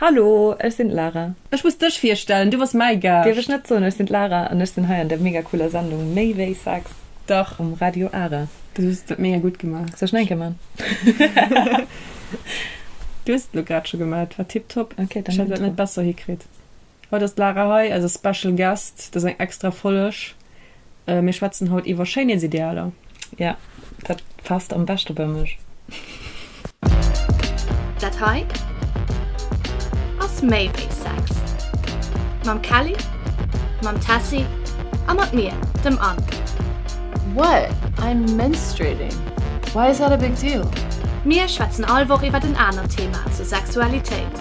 Hallo, ech sinn d'Lara. Ech muss dech virstellen, du bass mäi Gaascht. Dierf ech net soen, ech sinn d'Lara an ech sinn hei an der mega cooler Sendung Méi wéi Sex Dach. um Radio Ara. Du hues dat mega gutt gemaach. Soll ech nach eng Kéier man? Du hues et elo grad scho gemat, war tipptopp. Okay, dann Ech hätt dat net besser hikritt. Haut ass d'Lara hei, eise Special Guest. Dat ass eng extra Folleg. Mir schwätzen haut iwwer Schéinheetsidealer. Jo, dat passt am beschte bei mech. Dat hei ass méi wéi Sex. Mam Kelly, mam Tessy a mat mir, dem Anne. What? I'm menstruating. Why is that a big deal? Mir schwätzen all Woch iwwer en anert Thema zur Sexualitéit.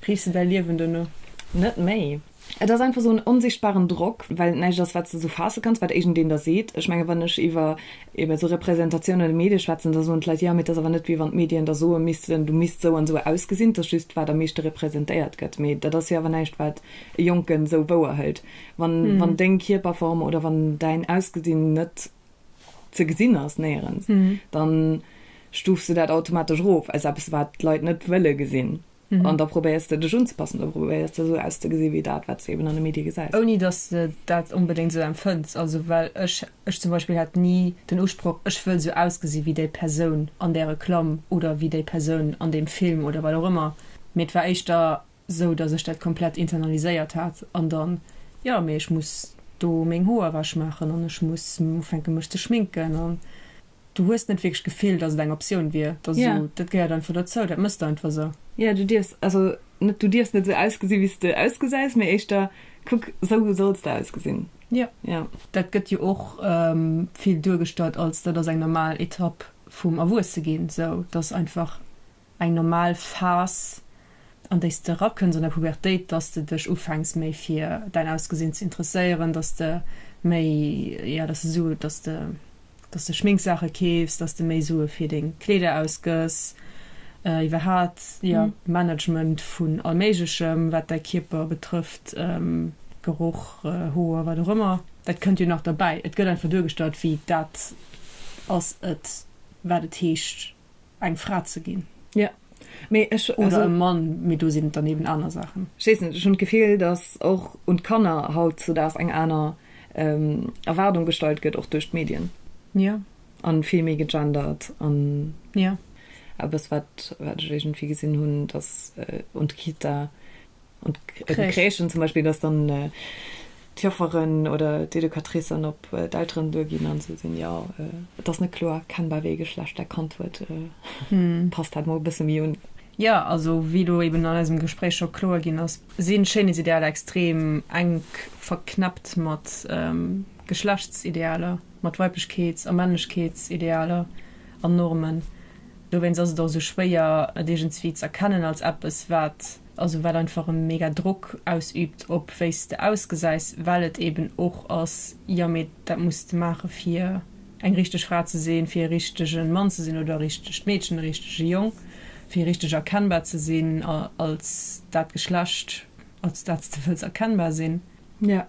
Kriss de däi Liewen duerno net méi? Et ass einfach esou en onsichtbaren Drock, well et näischt ass, wat s de esou faasse kanns, wat iergendeen der seet. Ech mengen, wann ech iwwer ebe sou Representatiounen an de Medie schwätzen, da soen d'Leit, Jo, mee et ass awer net, wéi wann d'Medien der soe missten, du misst sou an sou ausgesinn. Et ass just, wat am meeschte representéiert gëtt. Mee dat ass jo awer näischt, wat e Jonken sou wouer hëlt. Wann, wann deng Kierperform oder wann däin Ausgesinn net ze gesinn ass néierens, dann stufs de dat automatesch erof als eppes wat d'Leit net wëlle gesinn an da probéiers de dech unzepassen, da probéiers de esou auszegesinn wéi dat wat s de eben an de Medie gesäis. Ouni dass de dat onbedéngt esou empfënns, also well ech, ech zum Beispill hat ni den Usproch ech wëll esou ausgesinn wéi déi Persoun an där Reklamm oder wéi déi Persoun an deem Film oder wat och ëmmer, mee et war éischter sou dass ech dat komplett internaliséiert hat an dann jo mee ech muss do meng Hoer ewech maachen an ech muss ufänken mech ze schminken an du hues net wierklech d'Gefill dass et eng Optioun wier, et ass esou dat gehéiert einfach dozou, dat mëss de einfach esou. Jo du dierfs also net du dierfs net esou ausgesi wéi s de ausgesäis mee éischter kuck esou solls de ausgesinn. Jo jo. Dat gëtt jo och vill duergestallt als dat ass eng normal Etapp vum Erwuesse ginn, sou dass einfach eng normal Phas an déi s de erakënns an der Pubertéit, dass s de dech ufänks méi fir däin Ausgesinn ze interesséieren, dass s de méi, jo, dass s de Sue, dass s de, dass s de Schminksaache keefs, dass s de méi Sue fir deng Kleeder ausgëss, iwwerhaapt, jo, Management vun allméiglechem wat däi Kierper betrëfft, Geroch, Hoer, wat och ëmmer, dat kënnt jo nach derbäi. Et gëtt einfach duergestallt wéi dat ass et wat et heescht eng Fra ze ginn. Ja. Mee ech, also. Oder e Mann, mee do sinn et dann eben aner Saachen. Ech weess net, ech hunn d'Gefill, datt och un d'Kanner hautzudaags eng aner Erwaardung gestallt gëtt, och duerch d'Medien. Ja. A vill méi gegendert an. Ja. Eppes, wat ech iergendwéi gesinn hunn, datt un d'Kita. An d'Crèchen zum Beispill, datt dann d'Jofferen oder d'Educatricen op d'Elteren duer ginn a soen, jo, et ass net kloer erkennbar, wéi ee Geschlecht dat Kand huet, passt dat mol e bësse méi un. Jo, also wéi elo eben an eisem Gespréich scho kloer ginn ass, si Schéinheetsidealer extrem enk verknäppt mat Geschlechtsidealer, mat Weiblechkeets a Männlechkeetsidealer an Normen. Dowéinst ass et och esou schwéier, et iergendwéi z'erkennen als eppes, wat also wat einfach e mega Drock ausübt op wéi s de ausgesäis, well et eben och ass, jo mee dat muss de maache fir eng richteg Fra ze sinn, fir e richtege Mann ze sinn oder e richtegt Meedchen, e richtege Jong, fir richteg erkennbar ze sinn als dat Geschlecht als dat s de wëlls erkennbar sinn. Jo,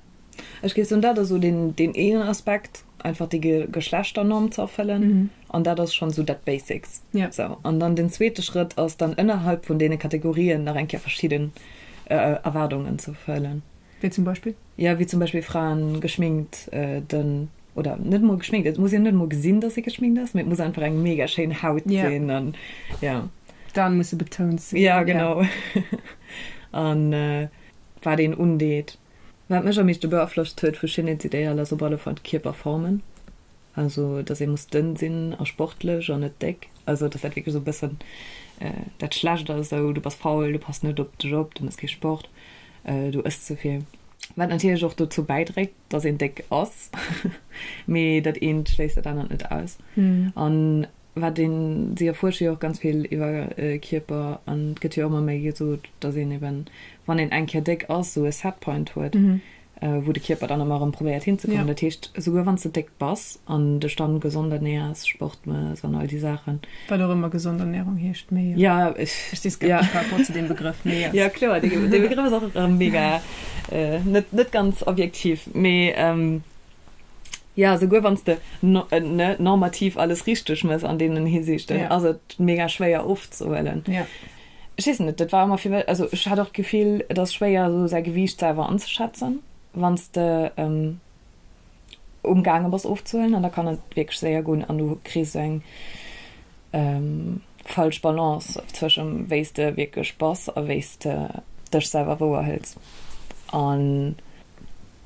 Ech géif soen, dat ass esou deen, deen eenen Aspekt, einfach déi Ge, Geschlechternorm ze erfëllen. An dat ass schonn esou dat Basics. Ja. Sou, an dann den zweete Schrëtt ass dann ënnerhalb vun deene Kategorien nach eng Kéier verschidden Erwaardungen ze erfëllen. Wéi zum Beispill? Jo, wéi zum Beispill Fraen geschminkt, den, oder net emol geschminkt, et muss een net emol gesinn, datt si geschminkt ass, mee et muss einfach eng mega schéin Haut sinn. Ja. An, jo. D'Aen musse betount sinn. Ja, genau. An wat een undeet. Wat mech am meeschte beaflosst huet vu Schönheitsideal ass op alle Fall d'Kierperformen, also dass ee muss dënn sinn a sportlech an net déck, also dass dat wierklech esou e bëssen dat schlecht ass, esou du bass faul, du pass net op dech op, du mëss kee Sport, du ëss ze vill. Wat natierlech och dozou bäidréit, dass een déck ass, mee dat eent schléisst dat anert net aus. An wat een si erfuersche jo och ganz vill iwwer e Kierper an et gëtt jo ëmmer méi gesot, datt een eben, wann een eng Kéier déck ass, esou e Set Point huet, wou de Kierper dann ëmmer erëm probéiert hinzekommen. Dat heescht, esouguer wann s de déck bass an dech dann gesond ernäers, Sport mëss an all déi Saachen. Wat och ëmmer gesond Ernährung heescht, mee jo. Ja, ech. Ech si skeptesch par rapport zu deem Begrëff, mee jo. Ja, kloer, dee Begrëff ass och mega net ganz objektiv, mee Ja, souguer wann s de normativ alles richteg mëss an deenen Hisiichten, ass et mega schwéier ofzehuelen. Ech weess net, dat war ëmmer fir mech, also ech hat och d'Gefill, et ass schwéier esou säi Gewiicht selwer anzeschätzen, wann s de umgaange bass ofzehuelen, an da kann et wierklech séier goen an du kriss esou eng falsch Balance zwëschem wéi s de wierklech bass a wéi s de dech selwer wouerhëls.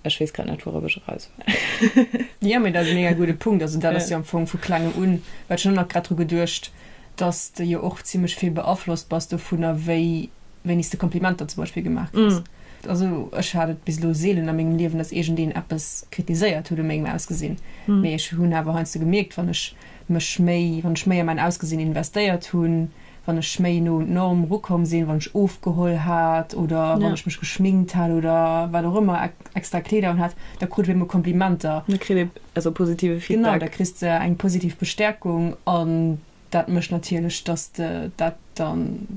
Ech wees grad net wourop ech eraus well. Jo mee dat ass e mega gudde Punkt. Also dat ass jo am Fong vu klengem un, well ech hunn och nach grad dru geduecht, dass de jo och zimlech vill beaflosst bass dovunner wéi wéinst de Komplimenter zum Beispill gemaach kriss. Also ech hat et bis elo seelen a mengem Liewen, dass iergendeen eppes kritiséiert huet u mengem Ausgesinn, mee ech hunn awer heiansdo gemierkt wann ech mech méi, wann ech méi a mäin Ausgesinn investéiert hunn, wann ech méi no un d'Norm rukomm sinn, wann ech ofgeholl hat oder wann ech mech geschminkt hat oder wat och ëmmer, extra Kleeder un hat, da krut op eemol Komplimenter. Da kritt ee esou positive Feedback. Genau, da kriss de eng positiv Bestäerkung an dat mécht natierlech, dass de dat da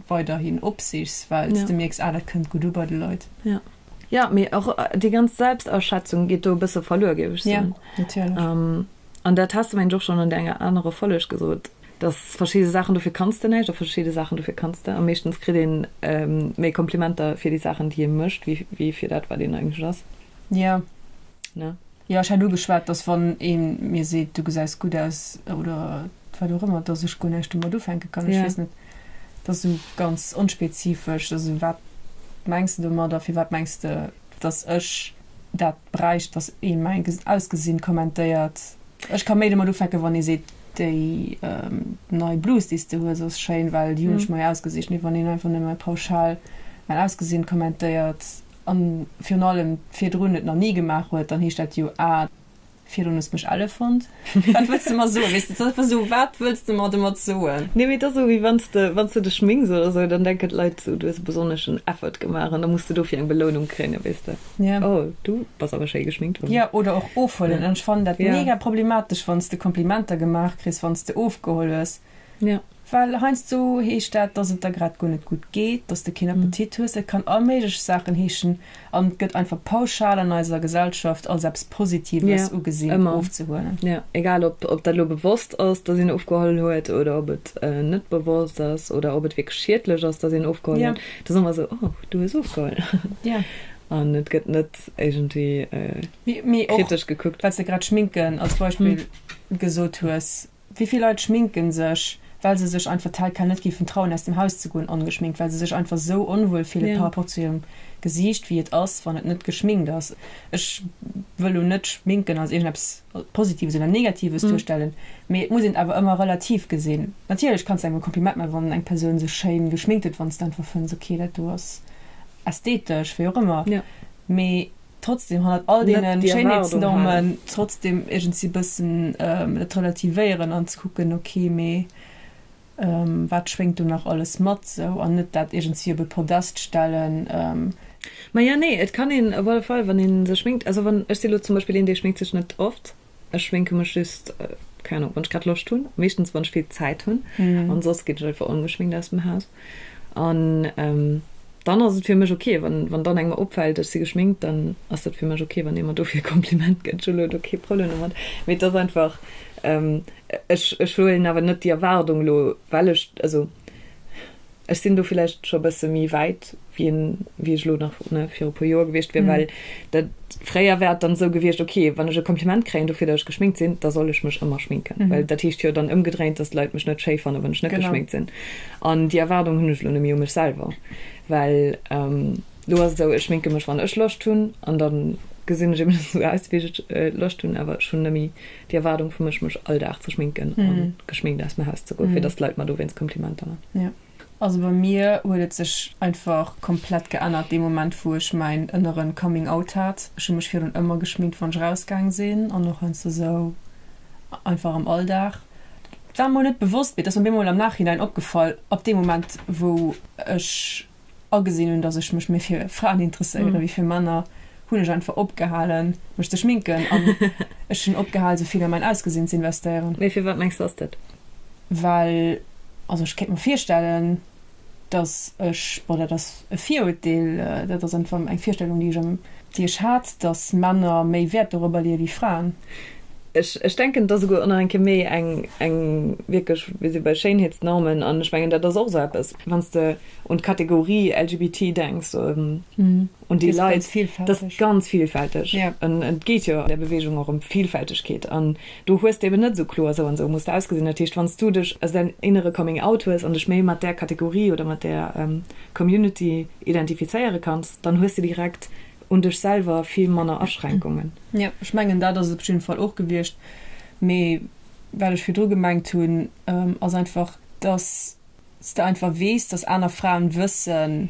weiderhin opsichs, well s de mierks, ah, dat kënnt gutt u bei de Leit. Jo, jo, mee och déi ganz Selbstaschätzung geet do e bësse verluer, géif ech soen. Jo, natierlech. An dat has de, mengen ech, och schonn an der enger anerer Folleg gesot, dass verschidde Saachen, dofir kanns de näischt, a verschidde Saachen, dofir kanns de. A meeschtens kritt ee méi Komplimenter fir déi Saachen, déi ee mécht, wéi fir dat, wat een eigentlech ass. Jo. Ne? Jo, ech hat ugeschwat, dass wann ee mir seet, du gesäis gutt aus oder wat och ëmmer, dass ech guer näischt domat ufänke kann. Ech weess net, dat ass esou ganz onspezifesch. Also wat mengs de domat a firwat mengs de, dass ech dat bräicht, dass ee mäin Ausgesinn kommentéiert. Ech ka méi domat ufänken, wann ee seet, déi nei Blus, déi s de hues, ass schéin, well déi hunn ech mei ausgesicht. Mee wann een einfach nëmme pauschal mäin Ausgesinn kommentéiert, a virun allem virdrun et nach ni gemaach huet, dann heescht dat jo, ah, Virdun hues mech elle fonnt. Wat wëlls de mer soen? Weess de, et ass einfach esou, wat wëlls de mer domat soen? Nee, mee et ass esou, wéi wann s de, wann s de dech schminks oder esou, dann denken d'Leit esou, du hues e besonneschen Effort gemaach an da muss de dofir eng Belounung kréien, weess de. Ja. Oh, du bass awer schéi geschminkt, Fanny. Ja, oder och ofhuelen. An ech fannen dat mega problematesch, wann s de Komplimenter gemaach kriss, wann s de ofgeholl hues. Jo. Well heiansdo heescht dat, dass et der grad guer net gutt geet, dass de keen Appetit hues. Et kann all méiglech Saachen heeschen an et gëtt einfach pauschal an eiser Gesellschaft als eppes Positives ugesinn, ofzehuelen. Jo, egal ob dat elo bewosst ass, dass een ofgehuelen huet oder ob et net bewosst ass oder ob et wierklech schiedlech ass, dass een ofgehuelen huet. Et ass ëmmer esou, Oh, du hues ofgehuelen. An et gëtt net iergendwéi kritesch gekuckt. Mee och, well s de grad Schminken als Beispill gesot hues. Wéi vill Leit schminken sech, well se sech einfach tel quel net géifen trauen aus dem Haus ze goen ongeschminkt, well se sech einfach esou onwuel fille par rapport zu hirem Gesiicht wéi et ass wann et net geschminkt ass. Ech wëll lo net schminken als iergendeppes Positives oder Negatives duerstellen, mee et muss een et awer ëmmer relativ gesinn. Natierlech kanns de engem e Kompliment man wann eng Persoun sech schéin geschminkt huet, wanns de einfach fënns ok dat do ass ästhetesch, wéi och ëmmer, mee. trotzdem hannert all deene Schéinheetsnormen trotzdem iergendsi bëssen et relativéieren an ze kucken, okay, mee wat schwéngt do nach alles mat sou, an net dat iergendsi op e Podest stellen. Maja, nee, et kann een op alle Fall, wann ee sech schminkt, also wann, ech si elo zum Beispill een, dee schminkt sech net oft, Ech schminke mech just, keng Ahnung, wann ech grad Loscht hunn, meeschtens wann ech vill Zäit hunn, an soss geet ech einfach ongeschminkt aus dem Haus. An dann ass et fir mech ok, wann dann engem opfält ech si geschminkt, dann ass dat fir mech ok, wann ee mer dofir e Kompliment gëtt, ech hunn elo do kee Problem domat. Mee et ass einfach, ech huelen awer net déi Erwaardung elo, well ech, also Ech sinn do villäicht scho e bësse méi wäit, wéi en, wéi ech elo nach, ne, viru puer Joer gewiescht wier, well dat, fréier wär et dann esou gewiescht, ok, wann ech e Kompliment kréien dofir, datt ech geschminkt sinn, da soll ech mech ëmmer schminken, well dat heescht jo dann ëmgedréint, datt d'Leit mech net schéi fannen, wann ech net geschminkt sinn. An déi Erwaardung hunn ech elo net méi u mech selwer, well elo ass et esou, ech schminke mech wann ech Loscht hunn an da gesinn ech eben esou aus, wéi ech Loscht hunn, awer ech hunn net méi Déi Erwaardung vu mech, mech all Dag ze schminken a geschminkt aus dem Haus ze goen, fir datt d'Leit mer dowéinst Komplimenter man. Also bei mir huet et sech einfach komplett geännert dee Moment, wou ech mäin ënneren Coming Out hat. Ech hu mech virun ëmmer geschminkt, wann ech rausgaang sinn an och heiansdo esou einfach am Alldag. Dat war mer net bewosst, mee et ass mer bemol am Nachhinein opgefall, ab deem Moment, wou ech agesinn hunn, dass ech mech méi fir Fraen interesséiere wéi fir Männer, hunn ech einfach opgehalen, mech ze schminken an ech hunn opgehal, esou vill a mäin Ausgesinn ze investéieren. Mee firwat mengs de ass dat? Well, also ech kéint mer virstellen, dass ech, bon, dat ass e Viruerteel, dat ass einfach eng Virstellung, déi ech, déi ech hat, dass Männer méi Wäert dorobber leeë wéi Fraen. Ech, ech denken, dass esouguer och nach eng Kéier méi eng, eng wierklech, wéi se bei Schéinheetsnormen, an ech mengen, dat ass och esou eppes, wann s de un d'Kategorie LGBT denks, un déi Leit, dat ass ganz villfälteg. Et geet jo an där Beweegung och ëm d'Villfältegkeet an do hues de eben net esou kloer, esou an esou muss de ausgesinn. Dat heescht, wann s du dech aus däin innere Coming Out hues an dech méi mat där Kategorie oder mat där Community identifizéiere kanns, dann hues de direkt un dech selwer vill manner Aschränkungen. Jo, ech mengen dat ass et op jidde Fall och gewiescht. Mee wat ech virdru gemengt hunn, ass einfach, dass s de einfach weess, dass aner Fraen wëssen,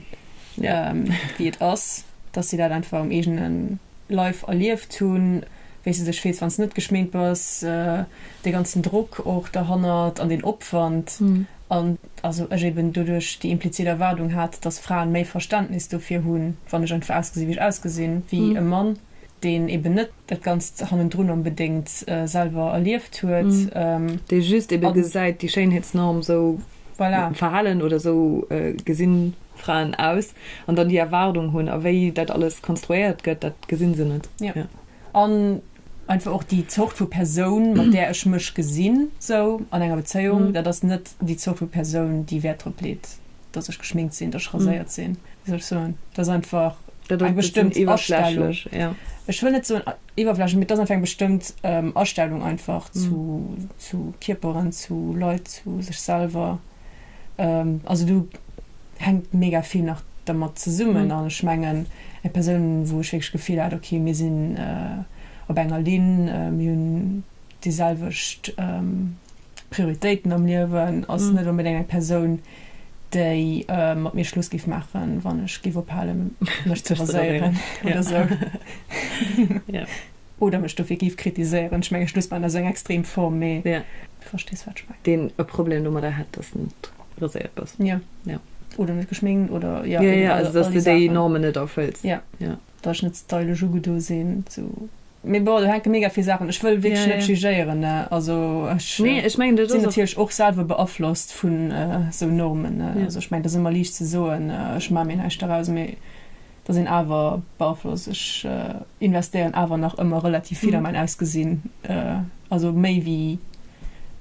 wéi et ass, dass si dat einfach um eegene Leif erlieft hunn, wéi s de dech fills, wann s de net geschminkt bass, dee ganzen Drock och derhannert an deen Opwand. An also ech eben doduerch déi implizit Erwaardung hat, dass Fraen méi Verständnis dofir hunn, wann ech einfach ausgesinn, wéi ech ausgesinn, wéi e Mann. Deen eben net dat Ganzt hannendrun onbedéngt selwer erlieft huet. Dee just ebe gesäit, déi Schéinheetsnorm, esou verhalen oder esou gesi Fraen aus. An dann déi Erwaardung hunn. A wéi dat alles konstruéiert gëtt, dat gesi se net. An einfach och déi Zort vu Persoun, mat där ech mech gesinn, esou an enger Bezéiung, dat ass net déi Zort vu Persoun, déi Wäert drop leet, dass ech geschminkt sinn, dass ech raséiert mm. sinn. Wie soll ich soen? Das einfach eng bestëmmt Iwerstellung. Ja. Ech wëll net so iwwerflächen, mit dat einfach eng bestëmmt ähm, Astellung einfach mm. zu, zu Kiperen, zu Leit, zu sech selber. Ähm, also du hängt mega viel nach damit zu summen an mhm. schmengen e person wo ich wirklich gefiel hat okay mir sinn äh, op enger lin äh, dieselwicht ähm, Prioritéiten am Liewen ass net onbedéngt eng Persoun, déi mat mir Schluss géif maachen, wann ech géif ophale mech ze raséieren oder esou oder mech dofir géif kritiséieren. Ech menge Schluss maachen ass eng extrem Form, mee du verstees wat ech mengen. Deen e Problem domadder hätt, dass de net raséiert bass. Jo, oder net geschminkt oder jo, all déi Saachen. Dass de déi Normen net erfëlls. Jo. dass ech net stylesch ugedo sinn sou mee bon do hänke mega vill Saachen, ech wëll wierklech net jugéieren ne also ech sinn natierlech och selwer beaflosst vu sou Normen ne also ech mengen et ass ëmmer liicht ze soen ech maache mir näischt doraus mee da sinn awer beaflosst ech investéieren awer nach ëmmer relativ vill a mäin Ausgesinn also méi wéi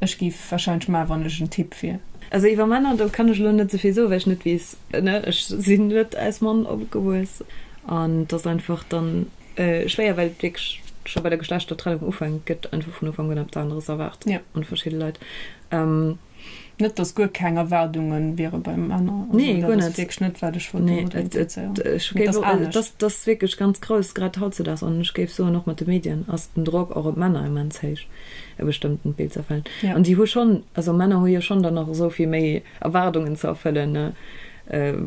ech géif warscheinlech maachen wann ech en Typ wier. Also iwwer Männer do kann ech elo net souvill soen well ech net weess Ne, ech sinn net aus Mann opgewuess an et ass einfach dann schwéier, well et wierklech scho bei der Geschlechtertrennung ufänkt, gëtt einfach vun Ufank un eppes aneres erwaart un verschidde Leit. Net dass guer keng Erwaardunge wiere bei Männer, also dat ass wierklech net wat ech wollt domadder implizéieren, mee et ass anescht. Et ass wierklech ganz grouss, grad hautzedaags, an ech géif soen och mat de Medien ass den Drock och op d'Männer immens héich e bestëmmtent Bild ze erfëllen an déi hu schonn, also Männer hu jo schonn dann nach esou vill méi Erwaardungen ze erfëllen,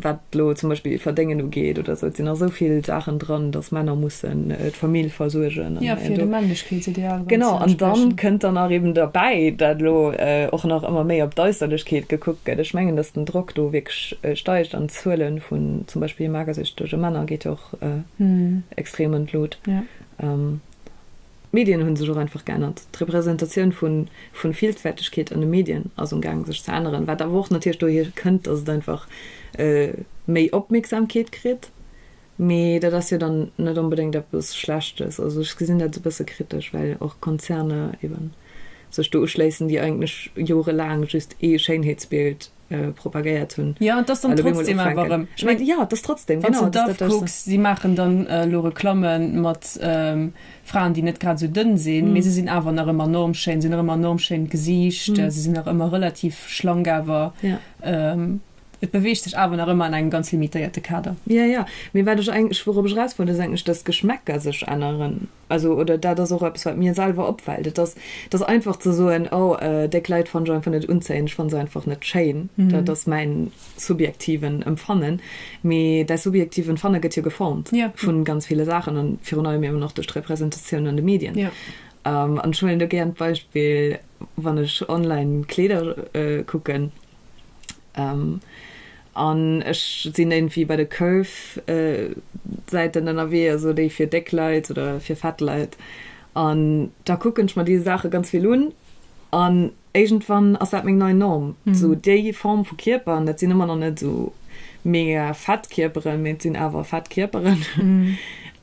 wat elo zum Beispill Verdéngen ugeet oder esou. Et sinn nach esou vill Saachen dran, datt Männer mussen d'Famill versuergen. Jo, fir dem Männlechkeetsideal dann ze entsprechen. Genau, an dann kënnt dann nach eben derbäi, dat elo och nach ëmmer méi op d'Äusserlechkeet gekuckt gëtt. Ech mengen, datt den Drock do wierklech steigt an d'Zuele vun zum Beispill magersüchtege Männer geet jo och extrem an d'Lut. D'Medien hunn sech och einfach geännert. D'Representatioun vun Villfältegkeet an de Medien ass um gaang sech ze änneren, wat awer och natierlech dohier kënnt, dass et einfach méi Opmierksamkeet kritt. Mee dat ass jo dann net onbedéngt eppes Schlechtes. Also ech gesinn dat e bësse kritesch, well och Konzerner eben sech do uschléissen, déi eigentlech jorelaang just ee Schéinheetsbild propagéiert hunn. Jo, et ass dann trotzdem awer erëm. Ech mengen, jo, et ass trotzdem, genau. Wann s de d'AFP kucks, si maachen dann elo Reklamme mat Fraen, déi net grad esou dënn sinn, mee se sinn awer nach ëmmer enorm schéin. Se hunn nach ëmmer enorm schéin Gesiicht, se sinn nach ëmmer relativ schlank, awer et beweegt sech awer nach ëmmer an engem ganz limitéierte Kader. Jo, jo. Mee wat ech eigentlech, wourop ech eraus wollt, ass eigentlech, dass d'Geschmäcker sech änneren. Also, oder dat ass och eppes, wat mir selwer opfält. Et ass, et ass einfach ze soen, oh, déck Leit fannen ech einfach net unzéiend, ech fanne se einfach net schéin. Dat ass mäin subjektiven Empfannen. Mee däi subjektiven Empfanne gëtt jo geformt vu ganz ville Saachen an virun allem eben och duerch d'Representatioun an de Medien. An ech huelen do gären d'Beispill, wann ech online Kleeder kucken, An ech sinn iergendwéi bei de Curve Säiten ënnerwee, also déi fir déck Leit oder fir fett Leit. An da kucken ech mer déi Saache ganz vill un an iergendwann ass dat meng nei Norm. Sou déi Form vu Kierper, an dat sinn ëmmer nach net sou mega fett Kierperen, mee et sinn awer fett Kierperen,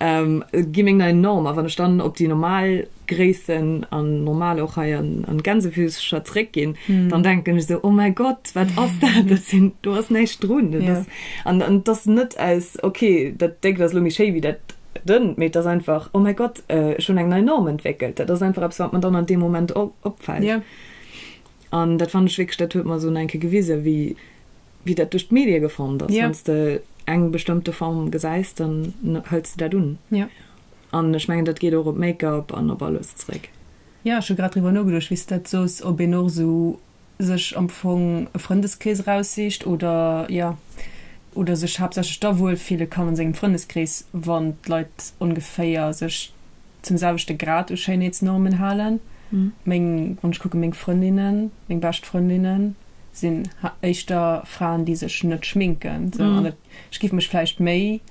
gi meng nei Norm. A wann ech dann op déi normal Gréissen an normal och hei an, an Gänsefilzcher zréck ginn, mm. dann denken ech so, oh mein Gott, wat ass dat? Das sind, du hast näischt drun. Ja. Das, an, an das net als, okay, dat Déck das lo méi schéi wie dat dënn, mee das einfach, oh mein Gott, äh, schon eng nei Norm entwickelt. Dat ass einfach etwas, wat man dann an dem Moment op, opfällt. Ja. An dat fand ich wirklich, dat huet man so enke gewise, wie, wie dat durch d'Medie gefond ass. Ja. Wenn du eng bestimmte Form gesäis, dann hëlls du dat un. Ja. An ech mengen, dat geet och op Make-up an op alles zréck. Jo, ech hu grad driwwer nogeduecht, wéi s de dat soos, ob een och esou sech am Fong e Frëndeskrees eraussicht oder, jo, oder sech haaptsächlech da wuel fille kann a sengem Frëndeskrees, wann d'Leit ongeféier sech zum selwechte Grad u Schéinheetsnormen halen. Meng, wann ech kucken, meng Frëndinnen, meng bescht Frëndinnen sinn éischter Fraen, déi sech net schminken, sou. An et, ech géif mech vläicht méi.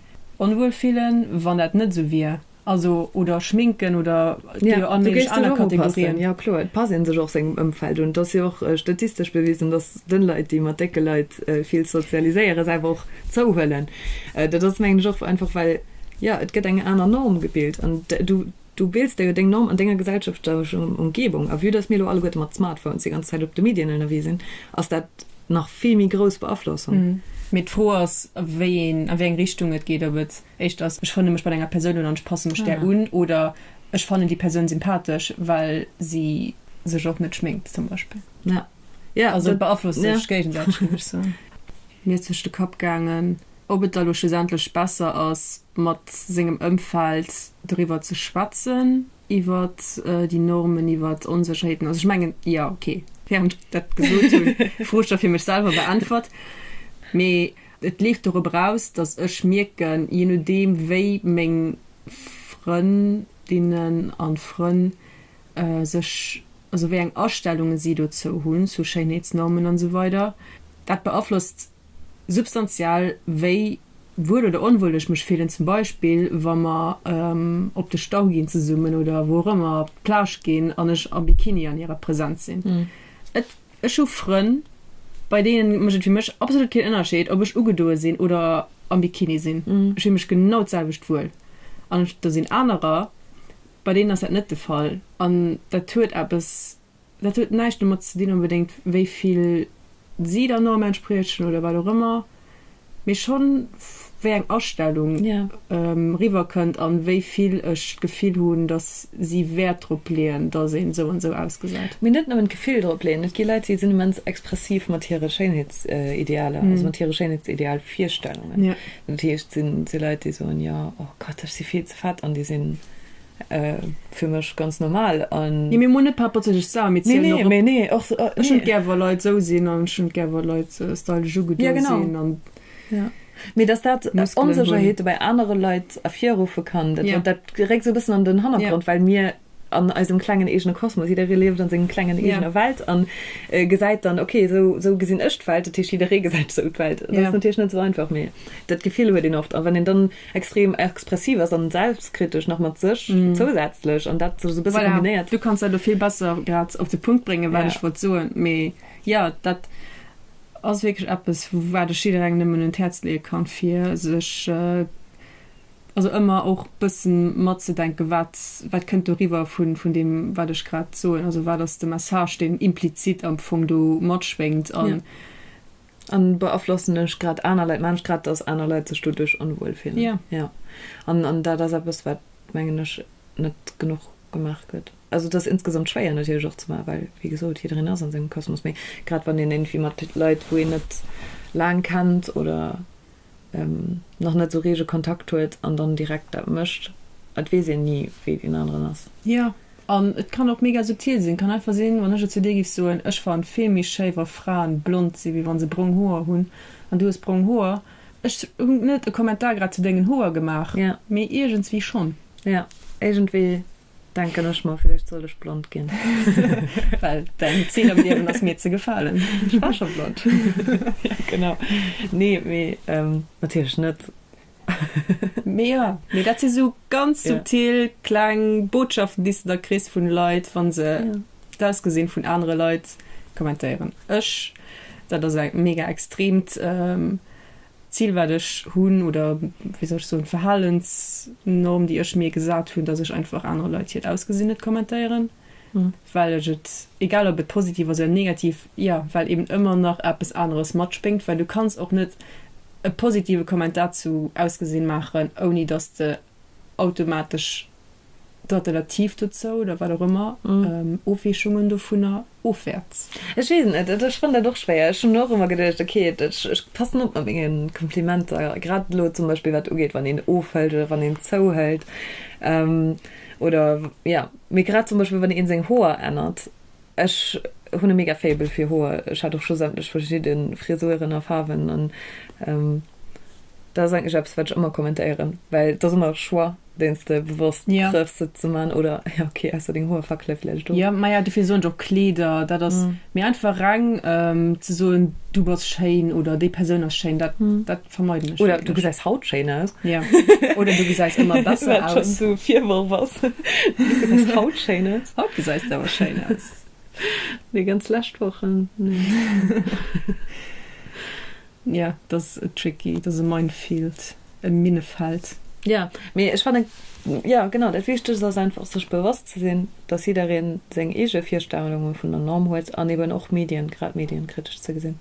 Onwuel fillen, wann dat net esou wier. Also, oder schminken oder et gi jo allméiglech aner Kategorien. Jo, kloer, et passt ee sech och sengem Ëmfeld un. Et ass jo och statistesch bewisen, dass dënn Leit, déi mat décke Leit vill sozialiséieren, se awer och zouhuelen. Dat ass, mengen ech, och einfach well, jo, et gëtt eng aner Norm gebilt an du, Du bills der jo deng Norm an denger gesellschaftlecher Umgebung a vue dass mir elo alleguerte mat Smartphones déi ganz Zäit op de Medien ënnerwee sinn, ass dat nach vill méi grouss Beaflossung. Mee d'Fro ass, wéi een, a wéi eng Richtung et geet. Ob et éischter ass, ech frënne mech mat enger Persoun un an ech passe mech där un, oder ech fannen déi Persoun sympathesch, well si sech och net schminkt zum Beispill. Also et beaflosst sech géigesäiteg, géif ech soen. Mir ass duerch de Kapp gaangen, ob et da elo schlussendlech besser ass, mat sengem Ëmfeld doriwwer ze schwätzen, iwwert déi Normen, iwwert Onsécherheeten. Also ech mengen, jo, okay, während ech dat gesot hunn, d'Fro scho fir mech selwer beäntwert. Mee et leeft dorop eraus, datt ech mierken, jee nodeem wéi meng Frëndinnen a Frënn sech, also wéi eng Astellunge si dozou hunn, zu Schéinheetsnormen an esou weider, dat beaflosst substantiell wéi wuel oder onwuel ech mech fillen, zum Beispill wa mer op de Stau ginn zesummen oder wou och ëmmer op d'Plage ginn an ech am Bikini an hirer Präsenz sinn. Et, ech hu Frënn, bei deene mécht et fir mech absolut keen Ënnerscheed, ob ech ugedoe sinn oder am Bikini sinn. Ech fille mech genau d'selwecht wuel. An do sinn anerer, bei deenen ass dat net de Fall an dat huet eppes. Dat huet näischt domat ze dinn onbedéngt, wéi vill si der Norm entspriechen oder wat och ëmmer, mee schonn, wéi eng Astellung riwwerkënnt an wéi vill ech d'Gefill hunn, dass si Wäert drop leeën, dass een esou an esou ausgesäit. Mee net nëmmen d'Gefill drop leeën. Et gi Leit, déi sinn immens expressiv mat hire Schéinheetsidealer, also mat hire Schéinheetsidealvirstellungen. Dat heescht, et si Leit, déi soen, Jo, oh Gott, ech si vill ze fett, an déi sinn. Fir mech ganz normal an. Nee mir moen net perpetech sauer, mir zielen och op. Nee, nee, nee. Ech hunn et gär wa Leit sou sinn an ech hunn et gär wa Leit stylesch ugedo sinn an. Ja genau. Mee datt dat Onsécherheete bei anere Leit ervirruffe kann, dat geréckt sou e bëssen an den Hannergrond, well mir an eisem klengen eegene Kosmos, jidderee lieft an senger klengen eegener Welt an gesäit dann, ok sou gesinn ech d'Welt, dat heescht jidderee gesäit esou d'Welt. Dat ass natierlech net sou einfach, mee dat Gefill huet een oft a wann een dann. Extrem expressiv ass an selbstkritesch nach mat sech zousätzlech an dat sou bësse kombinéiert. Voilà, du kanns dat elo vill besser grad op de Punkt bréngen, wat ech wollt soen. Mee jo, dat ass wierklech eppes, wat ech jidderengem nëmmen un d'Häerz leeë kann, fir sech also ëmmer och bëssen matzedenken, wat wat kënnt do riwwer vun vun deem, wat ech grad soen. Also wat ass de Message, deen implizit am Fong do matschwéngt a An beaflossen ech grad aner Leit? Maan ech grad dass aner Leit sech doduerch onwuel fillen? Jo. Jo. An an dat ass eppes wat mengen ech net genuch gemaach gëtt. Also et ass insgesamt schwéier natierlech och ze maachen, well wéi gesot jiddereen ass an sengem Kosmos. Mee grad wann een iergendwéi mat Leit wou een net laang kennt oder. nach net esou reege Kontakt huet an dann direkt dat mécht. Et weess een ni, wéi deen aneren ass. Jo, an et kann och mega subtil sinn. Kann einfach sinn, wann ech et zu dir géif soen, Ech fannen vill méi schéi wa Fraen blond sinn, wéi wa se brong Hoer hunn, an du hues brong Hoer. Ech hunn net e Kommentar grad zu dengen Hoer gemaach, mee iergendswéi schonn. Jo, iergendwéi Denken ech mer, villäicht sollt ech blond ginn. Well däin Zil am Liewen ass mir ze gefalen. Ech war scho blond. Jo, genau. Nee, mee natierlech net. Mee jo, mee dat si sou ganz subtil kleng Botschaften, déi s de da kriss vu Leit, wa se d'Ausgesinn vun anere Leit kommentéieren. Ech, dat ass eng mega extremt Zil wat ech hunn oder wéi soll ech soen, Verhalensnorm déi ech mir gesat hunn, dass ech einfach anere Leit hiert Ausgesinn net kommentéieren, well ech et, egal ob et positiv ass oder negativ, jo, well eben ëmmer nach eppes aneres matspéngt, well du kanns och net e positive Kommentar zu Ausgesinn maachen, ouni dass de automatesch d'Alternativ dozou oder wat och ëmmer, Ofweechungen dovunner ofwäerts? Ech weess et net. Ech fannen dat och schwéier. Ech hunn och ëmmer geduecht, ok, ech passen op mat menge Komplimenter, grad elo zum Beispill wat ugeet, wann een ofhëlt oder wann een zouhëlt oder, jo, mee grad zum Beispill wann ee seng Hoer ännert, Ech hun e mega Faible fir Hoer, ech hat och scho sämtlech verschidde Frisuren a Faarwen an dat ass eigentlech eppes wat ech ëmmer kommentéieren, well et ass ëmmer e Choix deen s de bewosst trëffs se ze man oder jo ok ausser deng Hoer fackele vläicht do. Jo majo dofir soen ech och Kleeder, dat ass méi einfach reng ze soen du bass schéin oder déi Persoun ass schéin dat dat. Vermeiden ech wierklech. Oder du gesäis haut schéin aus. Ja. Oder du gesäis ëmmer besser aus. Wat schonn esou e Virworf ass. Du gesäis haut schéin aus. Haut gesäis de awer schéin aus. Nee, ganz lescht Wochen, nee. Ja, et ass tricky. Et ass e Minefield, e Minnefeld. Ja, mee ech fannen, ja genau, dat Wichtegst ass einfach, sech bewosst ze sinn, dass jidderee seng eege Virstellunge vun der Norm huet an eben och Medien, grad Medien, kritesch ze gesinn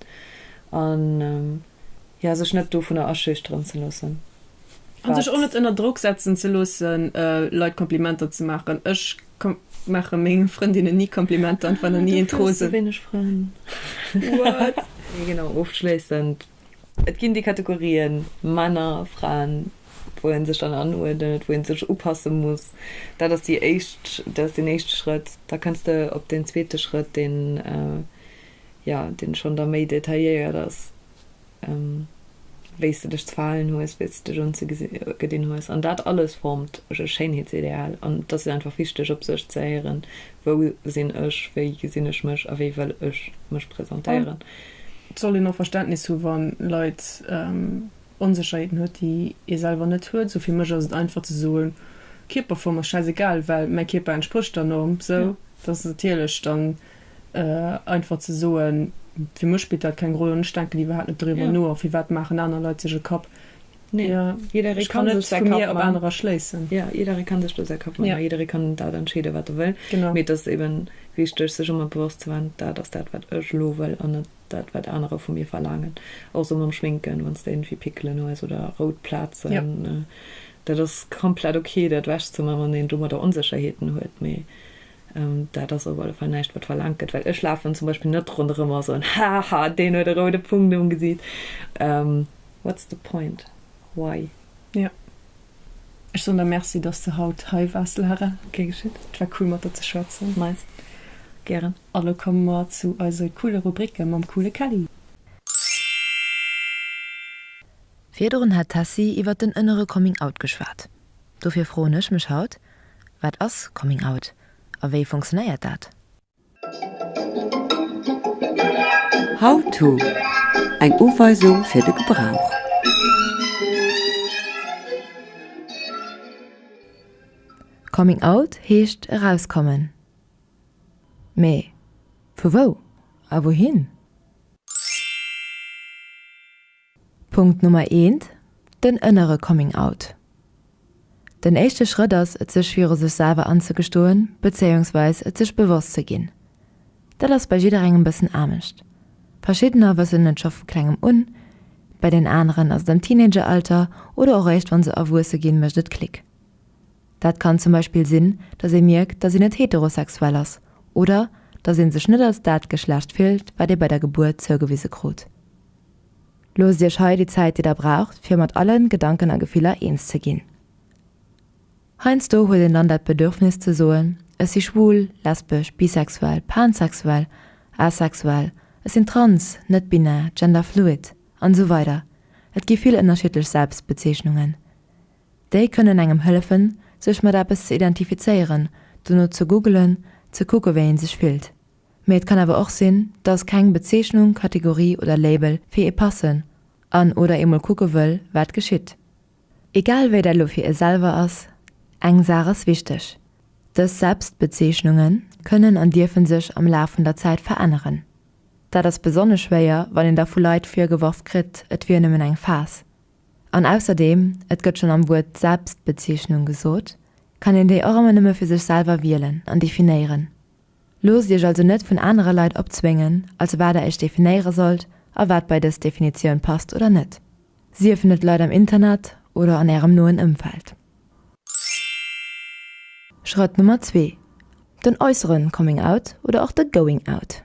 an. jo, sech net dovunner aschüchteren ze loossen. A sech och net ënner Drock setzen ze loosse Leit Komplimenter ze maachen. Ech maache menge Frëndinne ni Komplimenter an fannen ni een Trop sou wéineg Frënn. What? Mee genau, ofschléissend, et ginn déi Kategorien Männer, Fraen, wou ee sech dann anuerdent, wou ee sech upasse muss. Dat ass déi éischt, dat ass deen éischte Schrëtt. Da kënns de op deen zweete Schrëtt, deen jo, deen schonn da méi detailléiert ass, wéi s de dech ze verhalen hues, wéi s de dech ugedinn hues, an dat alles formt e Schéinheetsideal, an et ass jo einfach wichteg, op sech ze héieren, wou sinn ech, wéi gesinn ech mech a wéi wëll ech mech presentéieren. Et sollt een och Verständnis hu wa Leit Onsécherheeten huet, déi ee selwer net huet, sou fir mech ass et einfach ze soen, Kierperform ass schäiss egal, well mäi Kierper entsprécht der Norm, sou, dat ass natierlech dann. Einfach ze soen, Fir mech spillt dat keng Roll an ech denken iwwerhaapt net doriwwer no. A firwat maachen aner Leit sech e Kapp? Ech kann net vu mir op anerer schléissen. Jo, jidderee ka sech do säi Kapp maachen a jidderee kann dat entscheeden, wat e wëll. Mee et ass eeben wichteg, sech ëmmer bewosst ze waren, Dat ass dat, wat ech elo wëll an net dat, wat anerer vu mir verlaangen. Och esou mam Schminken, Wann s de iergendwéi Pickelen hues oder rout Plazen, dat ass komplett ok, dat ewechzemaachen, wann een domadder Onsécherheeten huet. Mee Dat ass op alle Fall näischt, wat verlaangt gëtt, well ech lafen zum Beispill net ronderëm a soen, Haha, deen huet e roude Punkt um Gesiit. What's the point? Why? Jo, ech soen der Merci, dass s de haut hei waars, Lara. Gär geschitt. Et war cool, mat der ze schwätzen. Nice. Gären. A lo komme mer zu eise coole Rubricke mam coole Kelly. Virdrun hat d'Tessy iwwert den ënnere Coming Out geschwat. Dofir froen ech mech haut, Wat ass Coming Out a wéi funktionéiert dat? How-to, Eng Uweisung fir de Gebrauch. Coming Out heescht erauskommen. Mee vu wou a wouhin? Punkt Nummer eent, den ënnere Coming Out. Den éischte Schrëtt ass et sech viru sech selwer anzegestoen, bezéiungsweis et sech bewosst ze ginn. Dat ass bei jidderengem bëssen anescht. Verschiddener wëssen et scho vu klengem un, bei den aneren ass et am Teenageralter oder och eréischt wann se erwuesse ginn, mécht et Klick. Dat kann zum Beispill sinn, datt ee mierkt, datt een net heterosexuell ass oder datt ee sech net als dat Geschlecht fillt, wat ee bei der Gebuert zougewise krut. Loosst Iech hei déi Zäit, déi Der braucht, fir mat alle Gedanken a Gefiller eens ze ginn. Heiansdo huet een dann dat Bedürfnis ze soen, Ech si schwul, lesbesch, bisexuell, pansexuell, asexuell, ech sinn trans, net-binär, genderfluid an esou weider Et gi vill ënnerschiddlech Selbstbezeechnungen. Déi kënnen engem hëllefen, sech mat eppes ze identifizéieren, dono ze googelen, ze kucke wéi ee sech fillt. Mee et kann awer och sinn, dass keng Bezeechnung, Kategorie oder Label fir ee passen an oder ee mol kucke wëll, wat geschitt. Egal wéi dat elo fir ee selwer ass, eng Saach ass wichteg, Dës Selbstbezeechnunge kënnen an dierfe sech am Laf vun der Zäit veränneren. Dat ass besonnesch schwéier, wann een da vu Leit virgeworf kritt, et wier nëmmen eng Phas. An ausserdeem, et gëtt schonn am Wuert Selbstbezeechnung gesot, kann een déi och ëmmer nëmme fir sech selwer wielen an definéieren. Loosst iech also net vun anere Leit opzwéngen, als wat der iech definéiere sollt a wat bei dës Definitioun passt oder net, siefen et Leit am Internet oder an ärem noen Ëmfeld. Schrëtt Nummer zwee, den äusseren Coming Out oder och de Going Out.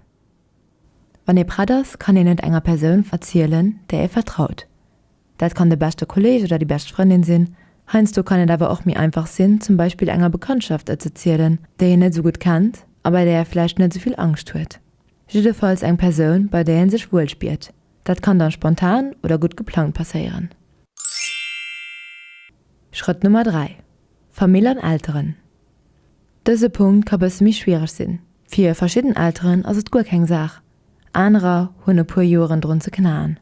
Wann ee prett ass, kann een et enger Persoun erzielen, där ee vertraut. Dat kann de beschte Kolleeg oder déi bescht Frëndin sinn. Heiansdo kann et awer och méi einfach sinn, zum Beispill enger Bekanntschaft et ze zielen, déi een net esou gutt kennt a bei där ee vläicht net esou vill Angscht huet. Jiddefalls eng Persoun, bei där ee sech wuel spiert. Dat kann da spontan oder gutt geplangt passéieren. Schrëtt Nummer 3, Famill an Elteren. Dëse Punkt ka bësse méi schwiereg sinn. Fir verschidden Elteren ass et guer keng Saach, anerer hunn e puer Joeren drun ze knaen.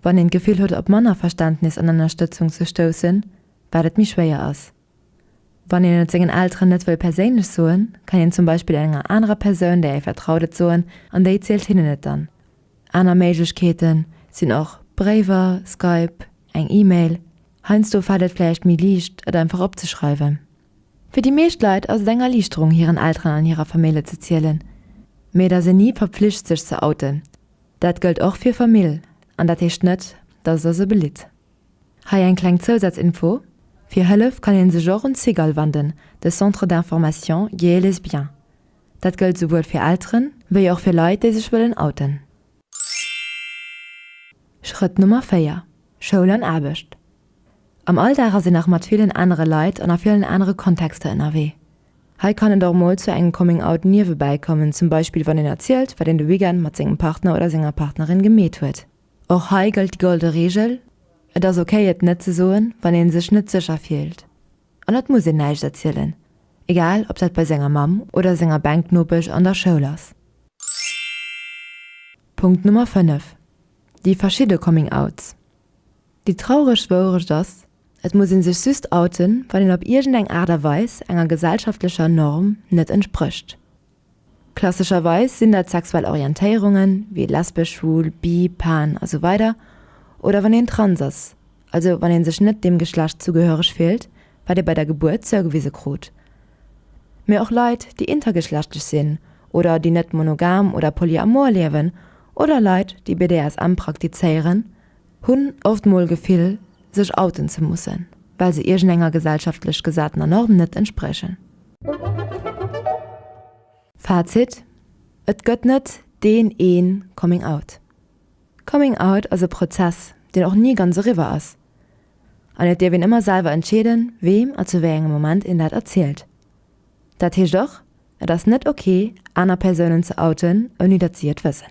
Wann een d'Gefill huet op manner Verständnis an Ënnerstëtzung ze stoussen, wat et méi schwéier ass. Wann een et sengen Elteren net wëll perséinlech soen, kann een zum Beispill enger anerer Persoun där ee vertraut et soen an déi zielt hinnen et dann. Aner Méiglechkeete sinn och Bréiwer, Skype, eng E-Mail. Heiansdo fält et vläicht méi liicht, et einfach opzeschreiwen. Fir déi meescht Leit ass et eng Erliichterung, hiren Elteren an hirer Famille ze zielen. Mee et ass een ni verpflicht, sech ze outen. Dat gëllt och fir Famill an dat heescht net, dass et ass e belitt. Hei eng kleng Zousaz-Info, Fir Hëllef kann ee sech och un d'Cigale wanden, de Centre d'Information Gay et Lesbien. Dat gëllt souwuel fir Elteren, wéi och fir Leit, déi sech wëllen outen. Schrëtt Nummer 4, Schoul an Aarbecht Am Alldag ass een nach mat villen anere Leit an a villen anere Kontexter ënnerwee. Hei kann et och mol zu engem Coming Out niewebäi kommen, zum Beispill wann een erzielt, wat een de Weekend mat sengem Partner oder senger Partnerin gemeet huet. Och hei gëllt déi golde Reegel, Et ass ok et net ze soen, wann ee sech net sécher fillt. An et muss een näischt erzielen, egal ob dat bei senger Mamm oder senger Bänknopesch an der Schoul ass. Punkt Nummer 5, déi verschidde Coming Outs. Déi traureg Wourecht ass, et muss ee sech just outen, wann een op iergendeng Aart a Weis enger gesellschaftlecher Norm net entsprécht. Klassescherweis sinn dat sexuell Orientéierungen, wéi lesbesch, schwul, bi, pan a sou weider oder wann een trans ass, also wann ee sech net deem Geschlecht zugehöreg fillt, wat ee bei der Gebuert zougewise krut. Mee och Leit, déi intergeschlechtlech sinn oder déi net monogam oder polyamor liewen oder Leit, déi BDSM praktizéieren, Hunn oft mol Gefill sech outen ze mussen, well se iergend enger gesellschaftlech gesatener Norm net entsprechen. Fazit, Et gëtt net deen een Coming Out. Coming Out ass e Prozess, deen och ni ganz eriwwer ass. An et dierf een ëmmer selwer entscheeden, weem a zu wéi engem Moment een dat erzielt. Dat heescht och, et ass net ok, aner Persounen ze outen, ouni datt si et wëssen.